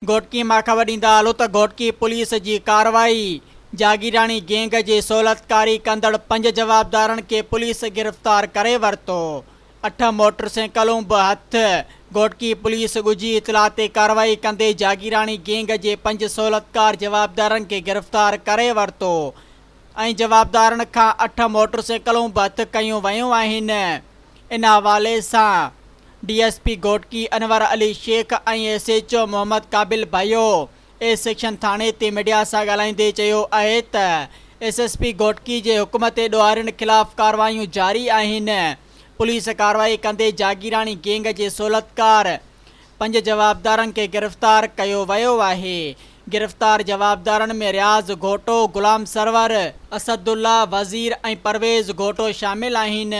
گهوٽڪي مان خبر ڏيندا هلو ته گهوٽڪي پوليس جي ڪارروائي، جاگيراڻي گينگ جي سهولتڪاري ڪندڙ پنج جوابدارن کي پوليس گرفتار ڪري ورتو، اٺ موٽر سينڪلون به هٿ، گهوٽڪي پوليس ڳجهي اطلاع تي ڪارروائي ڪندي جاگيراڻي گينگ جي پنج سهولتڪار جوابدارن کي گرفتار ڪري ورتو، ۽ جوابدارن کان اٺ موٽرسيڪلون به هٿ ڪيون ويون آهن ان حوالي سان D S P Ghotki Anwar Ali Shaikh ۽ S H O Muhammad Qabil Bhayo A section ٿاڻي تي ميڊيا سان ڳالهائيندي چيو آهي ته ايس ايس پي گهوٽڪي جي حڪم تي ڏوهارين خلاف ڪارروايون جاري آهن پوليس ڪارروائي ڪندي جاگيراڻي گينگ جي سهولتڪار پنج جوابدارن کي گرفتار ڪيو ويو آهي، گرفتار جوابدارن ۾ رياض گهوٽو، غلام سرور، اسد الله وزير ۽ پرويز گهوٽو شامل آهن،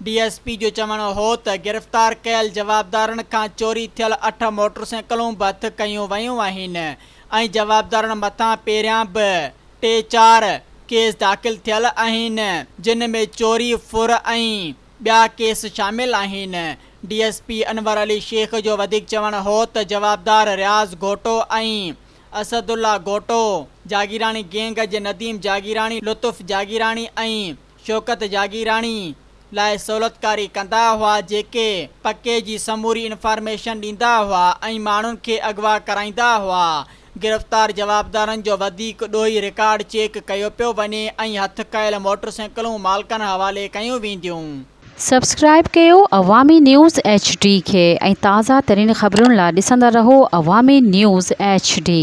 ڊي ايس پي جو چوڻ هو ته گرفتار ڪيل جوابدارن کان چوري ٿيل اٺ موٽرسائيڪلون به هٿ ڪيون ويون آهن ۽ جوابدارن مٿان پهريان به ٽي چار ڪيس داخل ٿيل آهن جن ۾ چوري، ڦر ۽. ٻيا ڪيس شامل آهن. D S P Anwar Ali Shaikh جو وڌيڪ چوڻ هو ته جوابدار رياض گهوٽو ۽ اسد الله گهوٽو جاگيراڻي گينگ جي نديم جاگيراڻي، لطف جاگيراڻي ۽ شوڪت جاگيراڻي لاء سهولتڪاري ڪندا هئا جيڪي پڪي جي سموري انفارميشن ڏيندا هئا ۽ ماڻهن کي اغوا ڪرائيندا هئا گرفتار جوابدارن جو وڌيڪ ڏوهي رڪارڊ چيڪ ڪيو پيو وڃي ۽ هٿ ڪيل موٽرسينڪلون مالڪن حوالي ڪيون وينديون. سبسڪرائب ڪيو عوامي نيوز ايڇ ڊي کي ۽ تازه ترين خبرن لا ڏسندا رهو عوامي نيوز ايڇ ڊي.